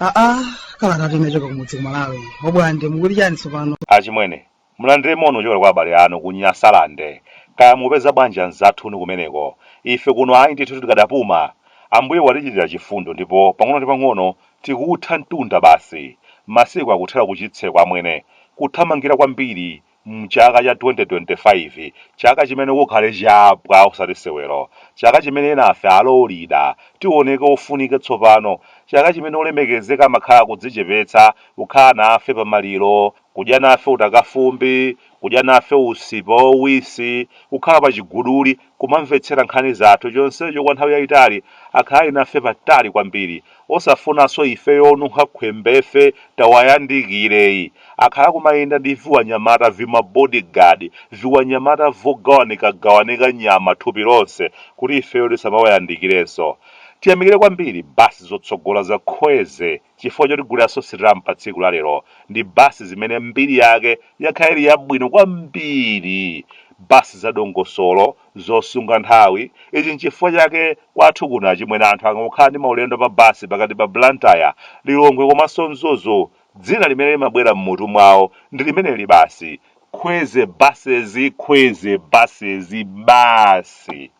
aa kalata ati yachoka kumudzi ku Malawi Obwande mukuti chani tsopano achimwene Mulandire moni wochokera kwa abale anu ku Nyasalande. Kaya mukupeza bwanji anzathunu kumeneko? Ife kuno ayi ndithu tikadapuma. Ambuye watichitira chifundo ndipo pang'ono ndi pang'ono tikuutha mtunda basi. Masiku akuthera kuchitseko amwene. Kuthamangira kwambiri m'chaka cha 2025. Chaka chimene kukhale chapwa osati sewero. Chaka chimene enafe alolida tioneke ofunika tsopano. Chaka chimene olemekezeka amakhala akudzichepetsa kukhala nafe pamaliro kudya nafe utakafumbi, kudya nafe usipa wauwisi, kukhala pa chiguduli, kumamvetsera nkhani zathu, chonsecho kwa nthawi yaitali, akhala ali nafe patali kwambiri, osafunanso ifeyo onunkha khwembefe tawayandikireyi, akhala akumayenda ndi viwanyamata vima body guard, viwanyamata vogawanikagawanika nyama thupi lonse kuti ifeyo tisamawayandikirenso. Tiyamikire kwambiri basi zotsogola za Kweze. Chifukwa choti kulira Sitramu pa tsiku la lero ndi basi zimene mbiri yake yakhala ili yabwino kwambiri, basi za dongosolo, zosunga nthawi, ichi n'chifukwa chake kwathu kuno achimwene anthu akangokhala ndi maulendo pa basi pakati pa Blantyre, Lilongwe komanso Mzuzu, dzina limene limabwera m'mutu mwawo ndi limeneli basi, Kweze Buses, Kweze Buses basi.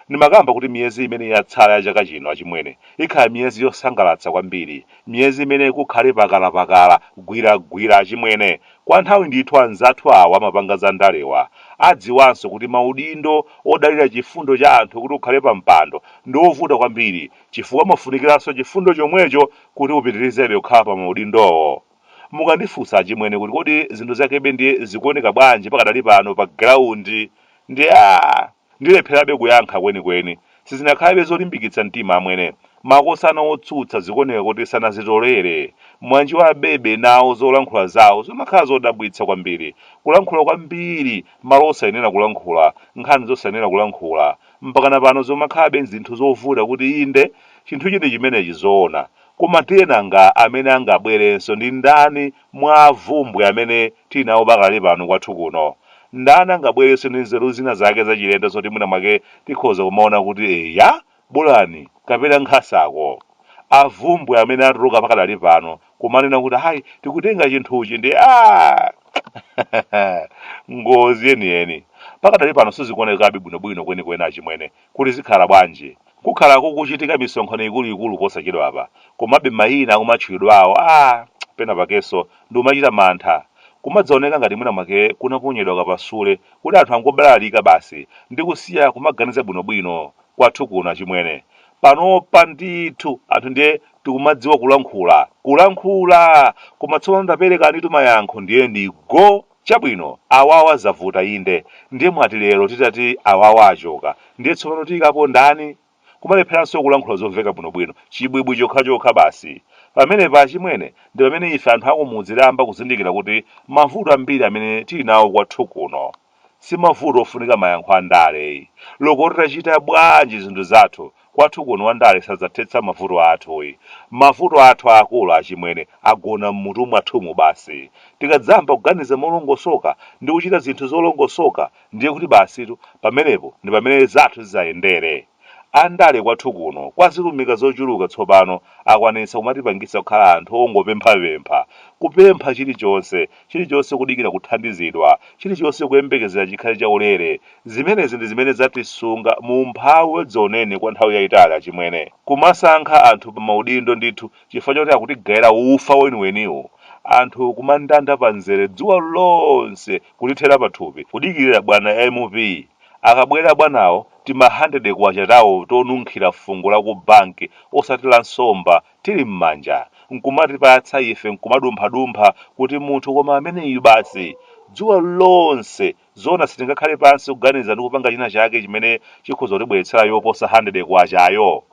Ndimakamba kuti miyezi imene yatsala ya chaka chino, achimwene, ikhala miyezi yosangalatsa kwambiri, miyezi imene kukhale pakala-pakala, gwira-gwira, achimwene. Kwa nthawi ndithu anzathu awa amapanga za ndalewa, adziwanso kuti maudindo odalira chifundo cha anthu kuti ukhale pa mpando ndi ovuta kwambiri, chifukwa umafunikiranso chifundo chomwecho kuti upitirizebe kukhala pa maudindowo. Mukandifunsa achimwene kuti kodi zinthu zakebe ndiye zikuoneka bwanji pakadali pano pa ground ndiye aah ndilepherabe kuyankha kwenikweni. Sizinakhalabe zolimbikitsa mtima amwene. Makosana otsutsa zikuoneka kuti sanazitolere. Mwanjiwabebe nawo zolankhula zawo zimakhala zodabwitsa kwambiri. Kulankhula kwambiri malo osayenera kulankhula, nkhani zosayenera kulankhula. Mpakana pano zikumakhalabe zinthu zovuta kuti inde chinthuchi ndi chimenechi zoona. Koma ndiye nanga amene angabwerenso ndi ndani mwa avumbwe amene tili nawo pakadali pano kwathu kuno? Ndani angabwerenso ndi nzeru zina zake zachilendo zoti mwina mwake tikhoza kumaona kuti eya, bolani kapena nkhasako? Avumbwe amene atuluka pakadali pano kumanena kuti ayi, tikutenga chinthuchi ndiye aah! Ngozi yeniyeni. Pakadali pano sizikuonekabe bwinobwino kwenikweni achimwene. kuti zikhala bwanji, kukhala kukuchitika misonkhano ikuluikulu posachedwapa, komabe mayina akumatchulidwawo, a, pena pakenso ndikumachita mantha. Kumadzaoneka ngati mwina mwake kunaponyedwa kapasule kuti anthu angobalalika basi ndi kusiya kumaganiza bwinobwino. Kwathu kuno achimwene, panopa ndithu anthu ndiye tikumadziwa kulankhula, kulankhula! Koma tsopano taperekanitu mayankho ndiye ndi go! Chabwino, awawa zavuta inde, ndiye mwati lero titati awawa achoka ndiye tsopano tiyikapo ndani? Kumalepheranso kulankhula zomveka bwinobwino, chibwibwi chokhachokha basi. Pamenepa achimwene, ndi pamene ife anthu akumudzi tayamba kuzindikira kuti mavuto ambiri amene tili nawo kwathu kuno si mavuto ofunika mayankho a ndale ayi. Loko titachita bwanji zinthu zathu Kwathu kuno wandale sadzathetsa mavuto athuyi. Mavuto athu aakulu achimwene agona m'mutu mwathumu basi. Tikadzayamba kuganiza molongosoka ndi kuchita zinthu zolongosoka ndiye kuti basitu pamenepo ndi pamene zathu zidzayendere. Andale kwathu kuno kwa zilumika zochuluka tsopano akwanitsa kumatipangitsa kukhala anthu ongopemphapempha, kupempha chilichonse. chilichonse kudikira kuthandizidwa, chilichonse kuyembekezera chikhale chaulere. Zimenezi ndi zimene zatisunga mu umphawi wadzaoneni kwa nthawi yaitali achimwene. Kumasankha anthu pa maudindo ndithu chifukwa choti akutigaira ufa weniweniwu, anthu kumandanda pa mzere dzuwa lonse kutithera pathupi kudikirira bwana M.P. Akabwera bwanawo timahandede kwacha tawo tonunkhira fungo la ku banki osati la nsomba tili mmanja nkumatipatsa ife nkumadumphadumpha kuti munthu koma ameneyu basi dzuwa lonse zoona sitingakhale pansi kuganiza ndi kupanga china chake chimene chikhoza kutibweretsera yoposa K100 yo?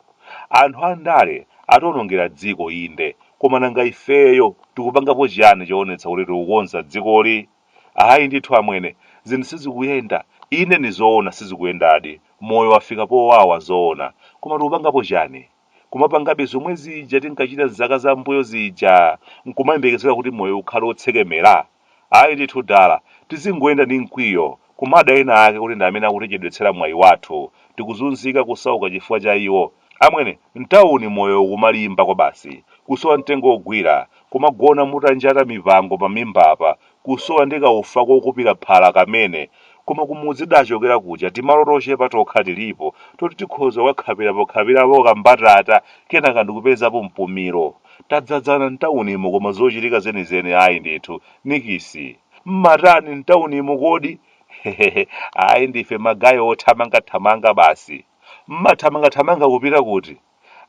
Anthu andale ationongera dziko inde koma nanga ifeyo tikupangapo chiyani choonetsa kuti tikukonza dzikoli? Ayi ndithu amwene zinthu sizikuyenda inde ndi zoona sizikuyendadi moyo wafika powawa zoona koma tikupangapo chani? kumapangabe zomwe zija tinkachita m'zaka zam'mbuyo zija n'kumayembekezera kuti moyo ukhale wotsekemera? Ayi ndithu dala, tizingoyenda ndi mkwiyo, kumada ena ake kuti ndi amene akutichedwetsera mwayi wathu, tikuzunzika, kusauka chifukwa cha iwo. Amwene, m'tauni moyo ukumalimba kwabasi, kusowa mtengo wogwira, kumagona mutanjata mipango pamimbapa, kusowa ndi kaufa kokupira phala kamene, koma kumudzi tidachokera kuja timalo tochepa tokha tilipo toti tikhoza kukakhapirapokhapirapo kambatata kenaka ndikupezapo mpumiro. Tadzadzana m'taunimo koma zochitika zenizeni ayi ndithu. Nikisi! Mmatani m'taunimo kodi? Hehehe, ayi ndife magaye othamangathamanga basi. Mmathamangathamanga kupita kuti?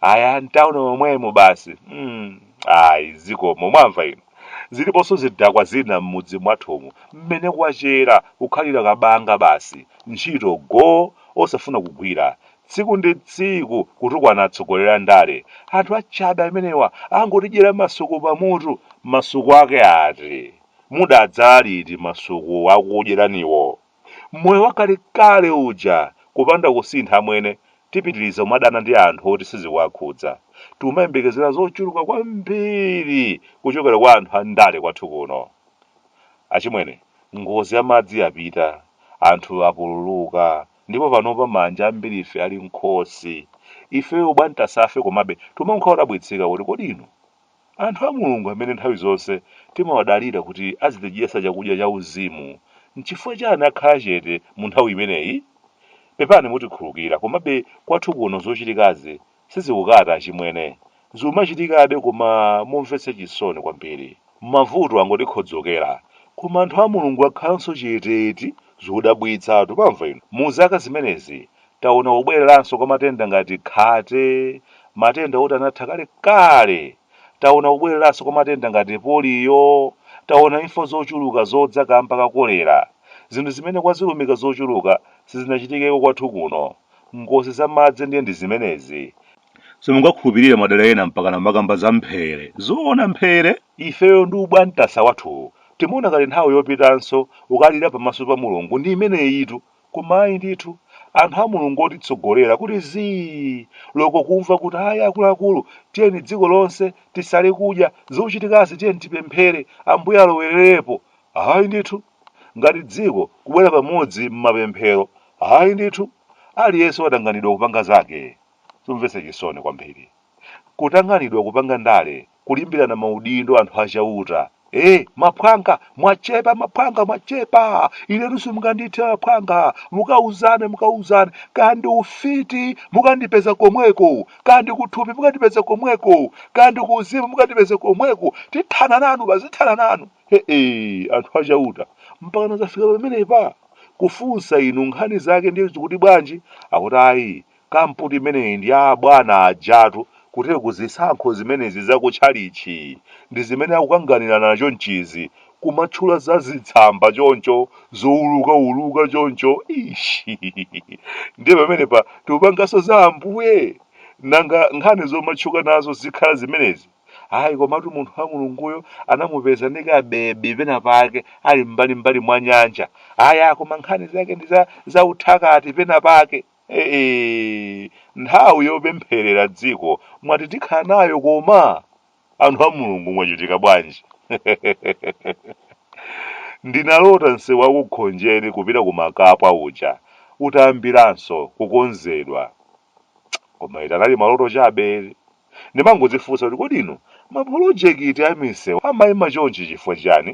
aya mtauni momwemo basi mm. ayi zikomo mwamva inu ziliponso zidakwa zina m'mudzi mwathumu mmene kwachera kukhalira kabanga basi ntchito go osafuna kugwira tsiku ndi tsiku kutukwana atsogoleri a ndale anthu achabe amenewa angotidyera masuku pamutu masuku ake ati mudadzala liti masuku akudyeraniwo Moyo wakale kale uja kupanda kusintha amwene tipitiriza kumadana ndi anthu oti sizikuwakhudza. Tikumayembekezera zochuluka kwambiri kuchokera kwa anthu a ndale kwathu kuno. Achimwene, ngozi ya madzi yapita, anthu apululuka ndipo panopa maanja ambirife ali m'khosi. Ifeyo abwantasafe komabe timakhala odabwitsika kuti kodi inu. Anthu a Mulungu amene nthawi zonse timawadalira kuti azitidyetsa chakudya chauzimu, n'chifukwa chani akhala chete mu nthawi imeneyi? Pepani mutikhulukira, komabe kwathu kuno zochitikazi sizikukata achimwene. Zikumachitikabe koma momvetsa chisoni kwambiri. Mavuto angotikhodzokera, koma anthu a Mulungu akhalanso chete eti? Zodabwitsatu, mwamva inu? Mu zaka zimenezi Taona kubwereranso kwa matenda ngati khate, matenda oti anatha kalekale. Taona kubwereranso kwa matenda ngati poliyo. Taona imfa zochuluka zodza kaamba ka kolera, zinthu zimene kwa zilumika zochuluka sizinachitikeko kwathu kuno. Ngozi za madzi ndiye ndi zimenezi. Simungakhulupirire madera ena mpakana kumakamba za mphere. Zoona mphere? Ifeyo ndi ubwantasa wathuwu timaona ngati nthawi yopitanso kukalira pamaso pa Mulungu ndi imeneyitu. Koma ayi ndithu, anthu a Mulungu otitsogolera kuti zii! loko kumva kuti ayi akuluakulu tiyeni dziko lonse tisale kudya, zikuchitikazi tiyeni tipemphere Ambuye alowererepo. Ayi ndithu! Ngati dziko kubwera pamodzi m'mapemphero, ayi ndithu! Aliyense watanganidwa kupanga zake. Zomvetsa chisoni kwambiri. Kutanganidwa kupanga ndale kulimbirana maudindo anthu a chauta ee maphwanga mwachepa maphwanga mwachepa inetu simungandithe maphwanga mukauzane mukauzane kaya ndi ufiti mukandipeza komweko kaya ndi kuthupi mukandipeza komweko kaya ndi kuuzimu mukandipeza komweko tithana nanu bazithana nanu ee anthu a chauta mpakana zafika pamenepa kufunsa inu nkhani zake ndiye zikuti bwanji akuti ayi Kampu imeneyi ndi ya abwana ajatu kuti kuzisankho zimenezi za ku tchalitchi ndi zimene akukanganirana chonchizi kumatchula za zitsamba choncho zouluka uluka choncho eish ndiye pamenepa tikupanganso za ambuye nanga nkhani zomatchuka nazo zikhala zimenezi ayi komatu munthu wa mulunguyo anamupeza ndi ka bebi pena pake ali mbali mbali mwa nyanja aya koma nkhani zake ndi za za uthakati pena pake Eee! Nthawi yopempherera dziko mwati tikhala nayo koma? Anthu a Mulungu mwachitika bwanji? Ndinalota msewu wa ku Khonjeni kupita ku Makapa uja utayambiranso kukonzedwa. Koma eti anali maloto chabe eti. Ndimangodzifunsa kuti kodi inu mapolojekiti a misewu amaima chonchi chifukwa chiyani?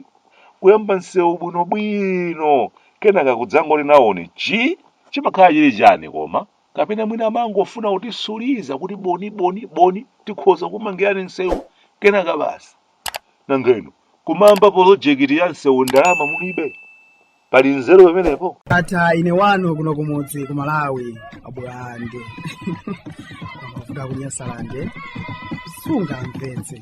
Kuyamba msewu bwinobwino kenaka kudzangoti nawoni chi! Chimakhala chiti chani koma? Kapena mwina amangofuna kutisuliza kuti boni boni boni tikhoza kukumangirani msewu kenaka basi. Nanga inu kumayamba polojekiti ya msewu ndalama mulibe? Pali nzeru pamenepo? Ndatha ine wanu kuno kumudzi ku malawi abulande amavuta kunyasalande sungamvetse